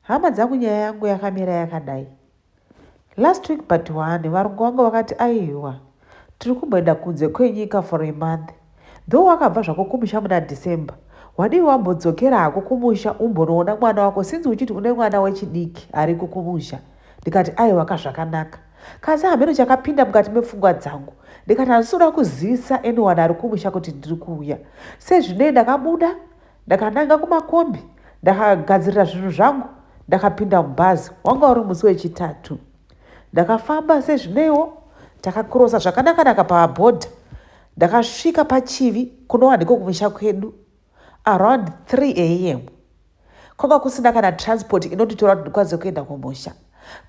Hama dzangu nyaya yangu yakamira yakadai. Last week but one varungu vangu vakati aiwa tiri kumboenda kunze kwenyika for a month though wakabva zvako kumusha muna December wadii wambodzokera hako kumusha umbonoona mwana wako since uchiti une mwana wechidiki ariko kumusha ndikati aiwa ka zvakanaka kasi hameno chakapinda mukati mepfungwa dzangu ndikati handisi kuda kuzivisa anyone ari kumusha kuti ndiri kuuya sezvinei ndakabuda Ndakananga kumakombi ndakagadzirira zvinhu zvangu ndakapinda mubhazi. Wanga uri musi wechitatu. Ndakafamba sezvineiwo takakirosa zvakanakanaka pabhodha. Ndakasvika pachivi kunova ndiko kumusha kwedu around 3 am. Kwanga kusina kana transport inonditora kuti ndikwanise kuenda kumusha.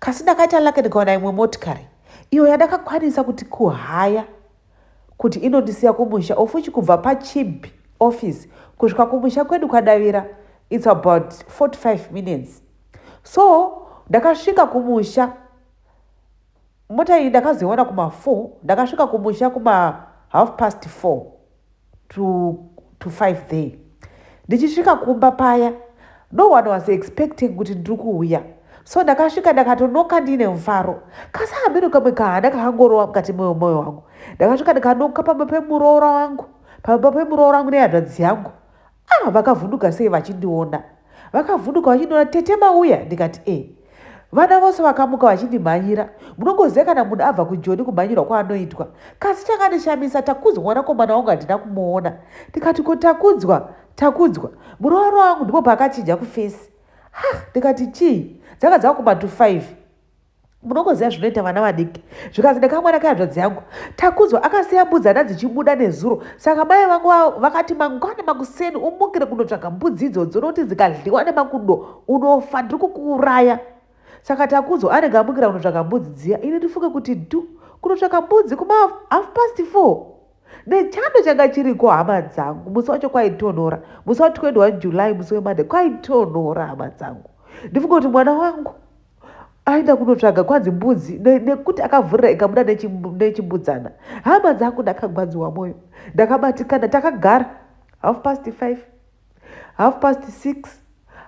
Kasi ndakaita lake ndikaona imwe motikari iyo yandakakwanisa kuti kuhaya. kuti inondisiya kumusha ofuchi kubva pachib office kusvika kumusha kwedu kwadavira its about 45 minutes so ndakasvika kumusha mota iyi ndakazoiona kuma4 ndakasvika kumusha kuma half past 4 to, to five there ndichisvika kumba paya no one was expecting kuti ndiri kuuya so ndakasvika ndakatonoka ndiine mufaro kasi hameno kamwe kahana kakangorowa mukati moyo moyo wangu ndakasvika ndikanoka pamba pemuroora wangu pamba pemuroora wangu nehadzvadzi yangu Ah, vakavhunduka sei vachindiona? Vakavhunduka vachindiona tete mauya ndikati e. Vana vose vakamuka vachindimhanyira. Munongoziva kana munhu abva kujoni kumhanyirwa kwaanoitwa. Kasi chakandishamisa Takudzwa mwanakomana wangu handina kumuona. Ndikati ko Takudzwa, Takudzwa. Muroora wangu ndipo paakachinja kufesi. Ha, ndikati chii? Dzanga dzava kuma to 5. munogoziva zvinoita vana vadiki zvikanzi ndakamwana kayadzvadzi yangu takudzwa akasiya mbudzi ana dzichibuda nezuro saka mai vangu vakati mangwana makuseni umukire kunotsvaga mbudzi idzodzo nokuti dzikadliwa nemakudo unofa ndiri kukuuraya saka takudzwa anenge amukira kunotsvaga mbudzi dziya ini ndifunge kuti du kunotsvaga mbudzi kuma half past four nechando changa chiriko hama dzangu musi wacho kwaitonhora musi wa 21 july musi wemande kwaitonhora hama dzangu ndifunge kuti mwana wangu aenda kunotsvaga kwanzi mbudzi nekuti akavhurira ikabuda nechimbudzana hama dzangu ndakagwadziwa mwoyo ndakabatikana takagara half past five half past six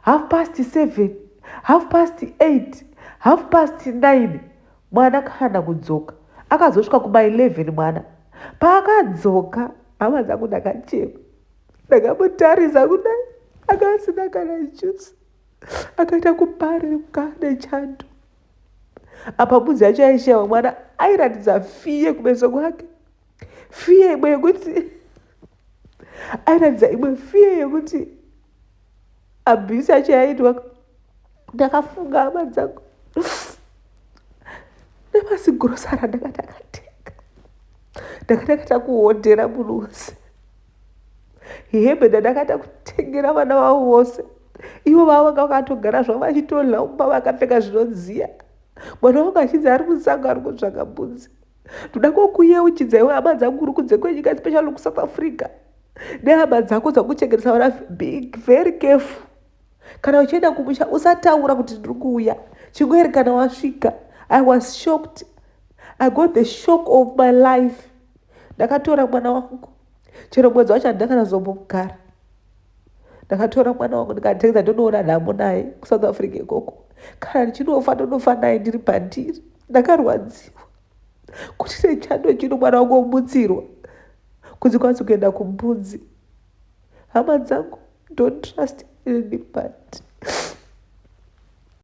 half past seven half past eight half past nine mwana kana kudzoka akazosvika kuma eleven mwana paakadzoka hama dzangu ndakachema ndakamutarisa kudai akasina kana jusi akaita kuparika nechando apa mudzi yacho yaishewa mwana airatidza fiye kumeso kwake fiye imwe yekuti airatidza imwe fiye yekuti abhisi yacho yaitwa ndakafunga hama dzangu nemasigrosara ndakati akatenga ndakati akaita kuhodhera munhu wose hembe dzandakaita kutengera vana vavo vose ivo vavo vanga vakatogara zvavo vachitodla umba vakapfeka zvinodziya mwana wangu achinzi ari musango ari kutsvaga mbudzi ndoda kokuyeuchidza iwe hama dzangu uri kunze kwenyika especially kusouth africa nehama dzako dzakuchengetesa vana big very careful kana uchienda kumusha usataura kuti ndiri kuuya chingoerekana wasvika i was shocked i got the shock of my life ndakatora mwana wangu chero mwedzi wacho handina kana zombomugara ndakatora mwana wangu ndikatengeza ndonoona nhamo naye kusouth africa ikoko kana ndichinofa ndonofa naye ndiri pandiri ndakarwadziwa kuti nechando chino mwana wangu omutsirwa kunzi kwanzi kuenda kumbudzi Hama dzangu don't trust anybody.